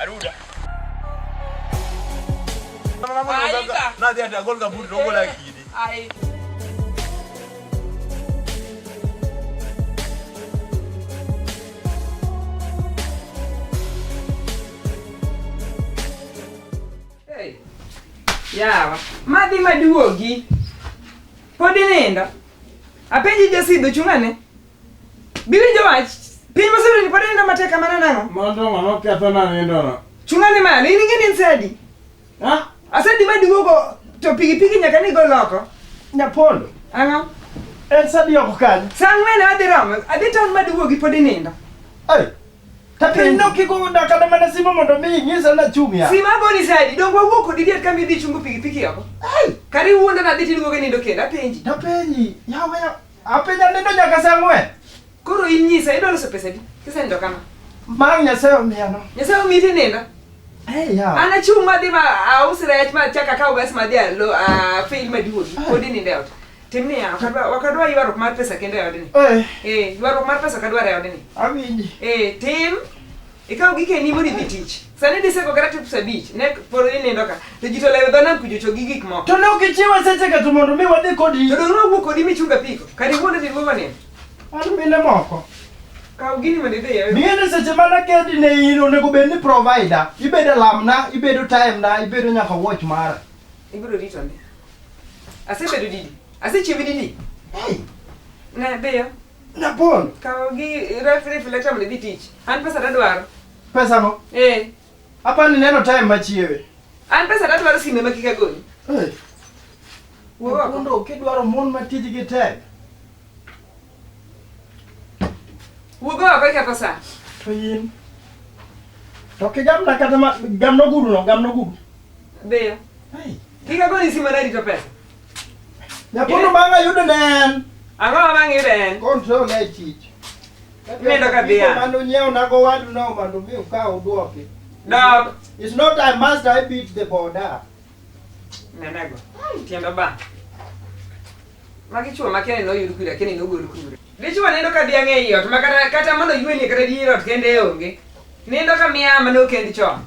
Aruda. Na dia dia gol ka bur logo la kidi. Ai. Yawa, madhi maduogi. Pod inindo? Apenji jasido chung'ane? Biwinjo wach. Piny moseruni pod inindo matek kamano nang'o? Mondo ng'ama ketho na nindono. Chung'ane malo, in ing'e ni en sadi. Ha? Asadi ma duogo to pikipiki nyaka ni gol oko. Nyapondo. Ang'o? En sadi oko kanyo. Sa ang'wen adhi romo, adhi taon ma duogi pod inindo. Ai. Ta piny no kiko na kata mana simo mondo mi nyisa na chung ya. Sima goni sadi, dongo wuok kodi diet kama idhi chungo pikipiki oko. Ai. Kari wuonda na adhi tiduogo nindo kendo apenji. Ta penyi. Yawa ya. Ape nyanindo nyaka saa ang'wen. Koro inyisa idwa loso pesa di? Kisenindo kama. Mang' Nyasaye omiyano. Nyasaye omiyi tinindo. Hey, yawa. An achung' madhi ma aus rech ma chak akaw gas madhi alo a fail maduogi. Pod inindo e ot. Tim niya, ok adwa- ok adwa ywaruok mar pesa kendo e odni. Eh, Eh, ywaruok mar pesa ok adwar e odni. awinji. Eh, tim Ikaw gi keni mori dhi tich. Sani diseko kata tips abich. Ne poro ni nindo ka. To jito lewe dona kujocho gi gik moko. To ne ok ichiwa seche ka to mondo mi wadhi kodi. To dona wuok kodi mi chunga piko. Kari wuonde dhi mama ne. An mine moko. Kaw gini mondo idhi yawe. Mine seche mana kedi ne in onego bed ni provider. Ibedo lamna, ibedo time na, ibedo nyaka watch mara. Ibiro rito ne. Asebedo didi. Asechiwi didi. Hey. Ne beyo. Napon. Kawo gi refrigerator chamo dhi tich. An pesa ta dwaro. Pesa no? Eh. Apa ni neno time machiewe. An pesa ta dwaro sime ma kika goni. Eh. Wo ko. Kondo kidwaro mon ma tij gi tek. Wo go ko ka pesa. To yin. To ke gam na kata ma gam no gudu no, gam no gudu. Be. Hey. Kika goni sime na rito pesa. Nyakono bang' ayudo ne en. Ang'o ma bang' yudo en? Control ne chich. Imedo ka dhiya. Mano nyiewo nago wadu no mondo mi ukaw uduoki. Dog. It's not I must I beat the border. Nenego. Tiendo ba. Magi chuo ma kene noyud kure, kene nogol kure. Dichuo nindo ka dhiang' e iot ma kata kata mondo yuenie kata dier ot kende onge. Nindo ka miya ma nokend chon.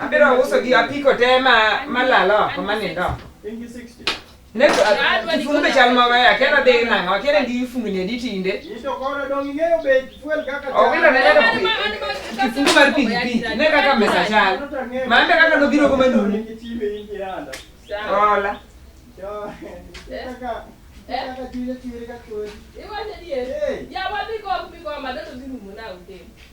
Abiro uso gi apiko te ma malalo oko ma nindo. Ne kifungu be chal maber akiera dhi nang'o akiera ndi fungni adi tinde. Owilo ne neno kifungu mar pikipiki ne kaka mesa chal. Mambe kaka nobiro go manuni. Hola.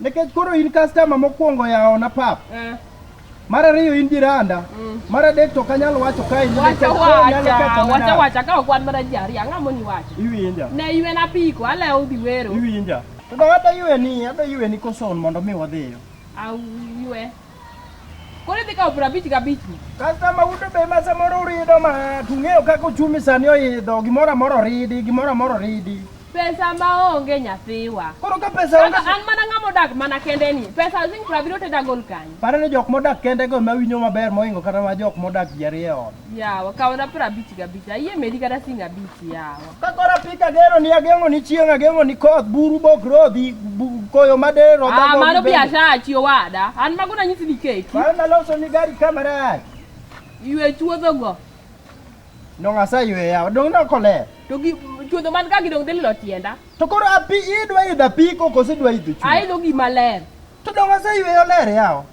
Nikech koro in customer mokwongo yaona pap. Eh. Mar ariyo in jiranda. Mm. Mar adek to kanyal wacho kae ni wacha wacha wacha wacha ka okwan mar jari ang'a moni wacho. Iwinja. Ne iwe na piko ale udhi wero. Iwinja. To da wada iwe ni ada iwe ni koson mondo mi wadhiyo. Au iwe. Koro idhi kawo piero abich gabich ni. Kasta ma uto be ma samoro urido ma tung'eyo kaka uchumi sani oidho gimoro amoro oridi gimoro amoro oridi. Pesa ma onge nyathiwa. Koro ka pesa onge Kaka an mana ng'ama odak mana kende ni. Pesa zing piero abiriyo teda gol kanyo. pare ni jok modak kende go ma winyo maber moingo kata ma jok modak ji ariyo e ot. Yawa kawna piero abich gabich. Ayie medi kata sing abich yawa. Ka koro apiko agero ni ageng'o ni chieng' ageng'o ni koth buru bok rodhi bu- koyo madero Ah, mano biashara chi owada. An mago nanyisi ni keki. Mano naloso ni gari kamera Ywe chuodho go. Dong aseyweya, dong nokoler. To gi chuodho man ka gidong dhi lilo tienda. To koro api idwa idho apiko koso idwa idho chuo? Aidho gima ler. To dong aseyweyo ler yawa.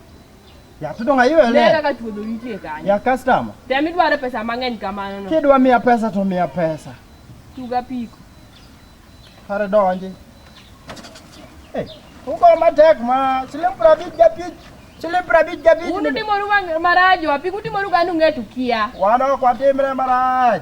Ya tudo nga iwe le. Nera ka tudo nitie kanyo. Ya customer. Tem idwaro pesa mang'eny kamano no. Kidwa miya pesa to miya pesa. Tuga piko. Kare donji. Eh, uko matek ma siling prabich japich. Siling prabich japich. Unu timoru maraj wapi? Kutimoru gani ung'etu kia? Wana kwa timre maraj.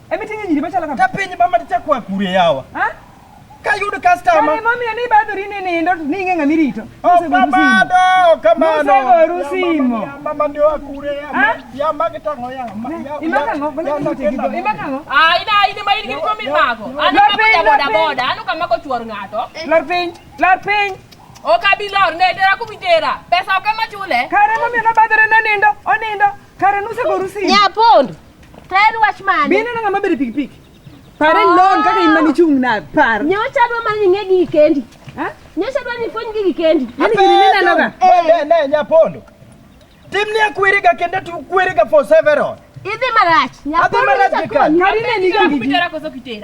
Emi tingi nyiri machala kama. Kapenyi mama ticha kwa kure yawa. Ha? Ka yudo customer. Kani mami ani bado rini ni ndo ninge ngami rito. Oh mama do kama no. Muse goru simo. Mama ndio akure ya. Ha? Ya mage tango ya. Imaka ngo bana kiti go. Imaka ngo. Ah ina ina mai ni komi mago. Ani kama boda boda. Anu kama ko chuor ngato. Lar piny. Lar piny. Okabilor ne dera kumitera. Pesa okama chule. Kare mami na badere na nindo. Onindo. Kare nuse goru simo. Nyapondo. Tayari wach mane? Be ineno ng'ama bedo pikipiki? Pare oh. lon kaka in mani chung' na par. Nyocha dwa mani ng'e gi kendi. Ha? Nyocha dwa ni fony gi kendi. Ani gini ni neno ga. Ne ne nyapondo. Tim ni akwiri ga kende tu kwiri ga for several. Idhi marach. Nyapondo. Adhi marach gi kan. Ngari ne ni gi. Ngari ne ni gi.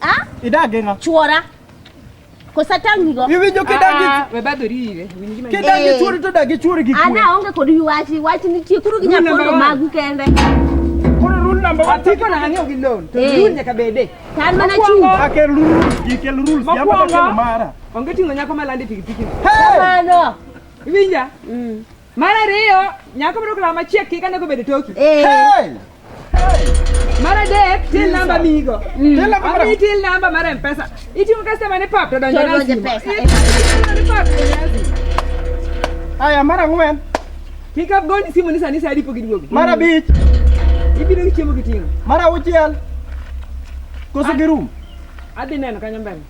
Ah? Idage ng'a? Chuora. Kosa tangi go. Iwinjo kidagi. Ah, we bado riwe. Kidagi eh. chuori to dagi chuori gi kwe. Ana onge kod yuwachi, wachi nitie kuru gi nyapondo magu kende. Koro rule number 1. Atiko na ng'eyo gi loan. To eh. rule nyaka bede. Tan mana chung. Akel rule, ikel rule, yamba kelo mara. Onge tingo nyako malandi pikipiki. Hey! Mano. Iwinja? Mm. Mar ariyo, nyako mondo kula machiek kik ane kobedo toki. Eh. Hey! Mar adek, till namba migo. Till namba mar- Ami till namba mar M-Pesa. Iting'o customer ne pap to donjo To na donjo simo. pesa. Iting'o customer ne pap to donjo na simo. Aya, mar ang'wen, Kik abgoni simu ni sani sa adi pok iduogo. mar abich, Ibiro gi chiemo giting'o. mar auchiel. Koso girum. Adhi neno kanyo mbele.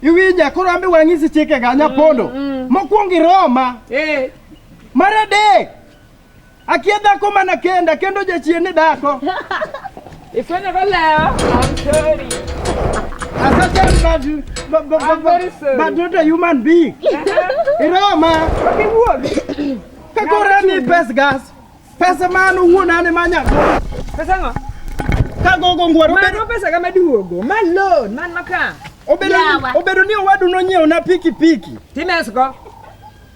Iwinja, koro ambe wang'isi chike ga nyapondo. Mokwongo iroma. Eh, Mar adek, akia dhako mana kenda kendo jachien ni dhako. Ifwenyo go lewa. I'm sorry. As a child, but, but, I'm very sorry. but not a human being. Iroma, kiwuogi. Kakora ni pes gas. Pesa mano wuon ane manya. Pesa ngo? Kagogo ngwaro. Mano pesa kama duogo. Ma loan, man maka. Obedo ni owadu nonyiewo na pikipiki. Timesko.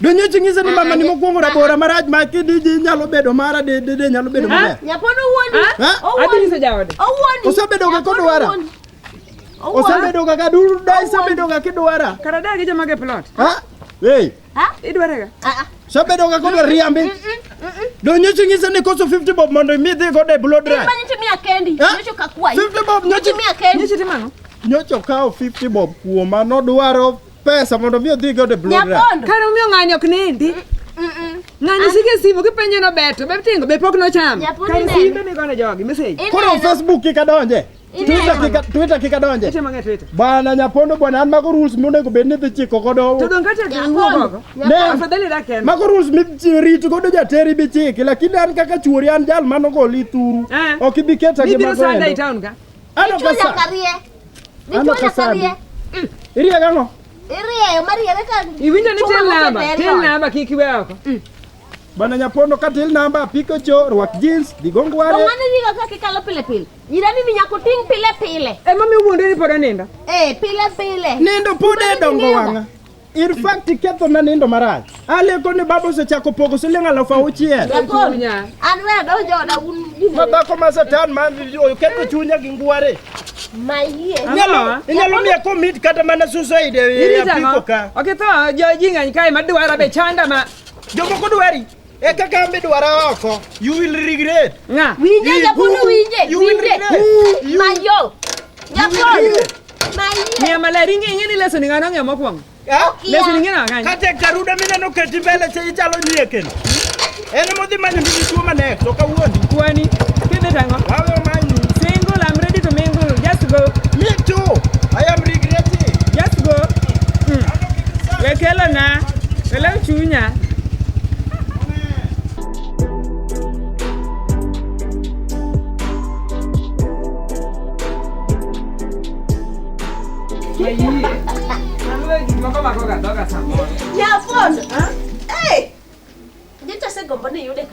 Donyeche ng'ise ni mama ni mokwongo rabora marach ma kidiji nyalo bedo mara de de de nyalo bedo maber. Nyapono wuondi. Ha? Adhi nyiso jaode. Owuondi. Osebedo ga kodwara. Osebedo ga ka duru da isebedo ga kidwara. Kara da gi joma ge plot. Ha? Hey. Ha? Idware ga. Ah ah. Osebedo ga kodwara riambi. Donyeche ng'ise ni koso 50 bob mondo imi dhi go de blow dry. Mani timia kendi. Ha? Nyocho kakwayi. 50 bob nyoche Timia kendi. Nyicho timano. nyocho kawo 50 bob kuoma nodwaro pesa mondo mi odhi godo e blood run. Nyapondo. Kare omiyo ng'ani ok nindi. Ng'ani sike simu kipenjo no beto, be tingo be pok nochamo. Nyapondo Kare ineno. simbe migono jogi message. Koro Ineno. Facebook kik adonje. Ineno. Twitter kik a- Twitter kik adonje. Acha mang'e Twitter. Bwana Nyapondo bwana an mago rules monego bed ni dhi chiko godo. To donge acha Nyapondo. kiwuok oko. Ne. Afadhali dak en. Mago rules mirit godo jateri bi chiki lakini an kaka chuori an jal mano goli thuru. Eh. Ok ibi keta gi Ibiro mago sanda e endo. town ka. Ano kasa. Ichula karie. Ano kasa. Mm. Irie gano. Irie marie weka. Iwinja ni tel namba. Tel namba kiki wako. Mm. Bana nyapondo ka tel namba piko cho rwak jeans digongo wale. Ngani diga ka kikalo pile pile. Ira mimi nyako ting pile pile. E mami wuonde ni podo nindo. Eh pile pile. Nindo pode dongo wanga. In fact iketho na nindo marach. Aleko ni baba osechako pogo siling aluf auchiel. Jakon, an we adonjo oda un gini. Ma dhako ma satan ma oketho chunya gi ngware. Mayie. Inyalo inyalo miya komit kata mana suicide e apiko ka. Oketho jo jing'any kae madwara be chanda ma. Jomoko dwari. Eka kambi dwara oko. You will regret. Ng'a? Winje Japolo winje. You will Winje. regret. You- Mayo. Japolo. Mayo. Ng'e maler ing'e ing'e ni lesson ng'ano ng'e mokwongo. Ah? Lesson ing'e na ng'any. Kata karuda mineno keti mbele cha ichalo nie kendo. En modhi manyo mimi tuo manek to kawuondi. Kwani kidhi tango. Wawe omanyi. Single I'm ready to mingle. Just go. Me too. I am regretting. Just go. Mm. Wekelo na. Welew chunya.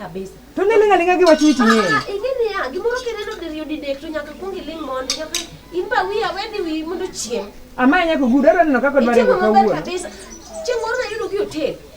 kabisa. To ne lenga lenga giwa chiti ni. Ah, ingeni ya gimoro keneno de yudi dek to nyaka kungi ling mon nyaka imba wiya wedi wi mondo chiem. Ama nyaka gudo ero neno kaka dware ko kawuono. Kabisa. Chimoro na yudo ki hotel.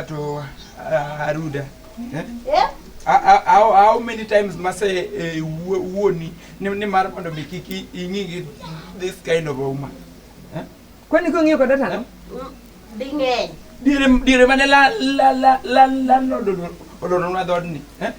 ato aruda eh? eh? how many times mase eh, wuoni ni mar mondo mi kik ing'i this kind of a woman kwani kong'iyo koda tano ding'eny diere diere mane la la la la la no do do do no do ni eh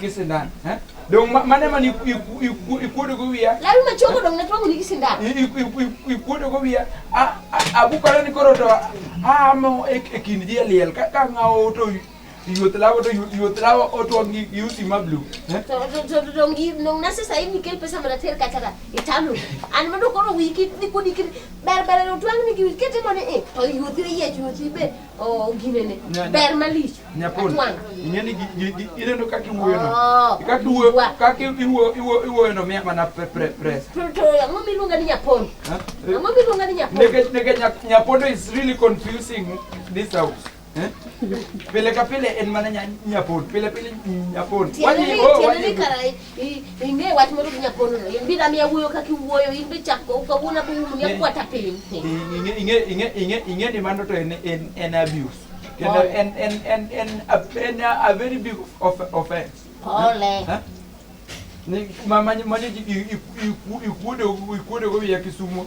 gi sindan eh? dong mane man ikuodogo wiya lawi machogo dong natwang'oni gi sindan ikuodogo wiya abukore ni koro to aamo e kind ji e liel ka ng'awo to yuoth lawo to yuoth lawo otwang' gi usi ma blu eh? dong nase sahi nikel pesa mana ter kachara italo an mano koro wiki nikudi ber ber otwang'ni gi wikete mane e eh, to yuothi oyiech yuothi be Oh, gine ne. Ber malich. Nyapon. Inye ni ineno kaka iwuoyo no. Oh, kaka iwuoyo, kaka iwuoyo, iwuoyo, iwuoyo no miya mana pre pre press. To to ang'o miluonga ni nyapon? Eh? Ang'o miluonga ni nyapon? Nege nege nyapondo is really confusing this house. Eh? Pile ka pile en mana nyapon. Pile pile nyapon. Wani, oh, wani. Ing'e wach moro gi nyakono no. In bi na miya wuoyo kaka iwuoyo, in be chak go kawuono be um nya kwata piny. Ing'e ing'e ing'e ing'e ing'e ni mano to en en en abuse. Kendo en en en en en a very big offense. Pole. Ni mama mani ikuode ikuode go ya Kisumu.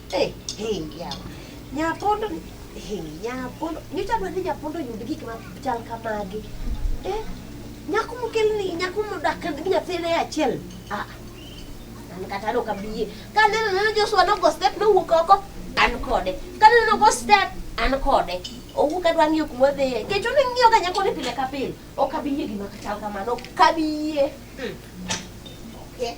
Hey, hey, yeah. Nyapondo, hey, nyapondo. Nyocha dwa ni nyapondo oyud gik ma chal kamagi. Eh, nyako mokelni, nyako modak gi nyathine e achiel. Ah, an kata an ok abi yie. Ka aneno neno Joshua nogo step nowuok oko, an kode. Ka aneno nogo step, an kode. Owuok adwa ng'iyo kuma odhiye. Kech one ng'iyoga nyakoni pile ka pile. Ok abi yie gima chal kamano, ok abi yie. Hmm. Okay.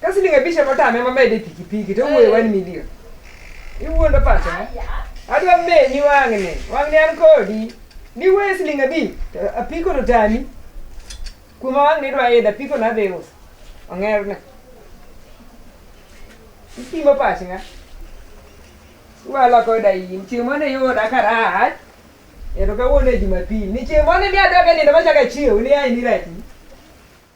Ka siling' abich ema otame ema mede pikipiki to owuoyo one million. Iwuondo pacha. eh? Adwa menyi wang'ni, wang'ni an kodi. Niwe siling' abich to apiko to tami. Kuma wang'ni idwa idho apiko no adhi uso. Ong'erne. Ipimo pach ng'a? Iwalo koda in. Chieng' mane iyuda karach. Ero kawuono e Jumapil. Ni chieng' mane ni adwa ka nindo machaka chiew ni ai ni rati.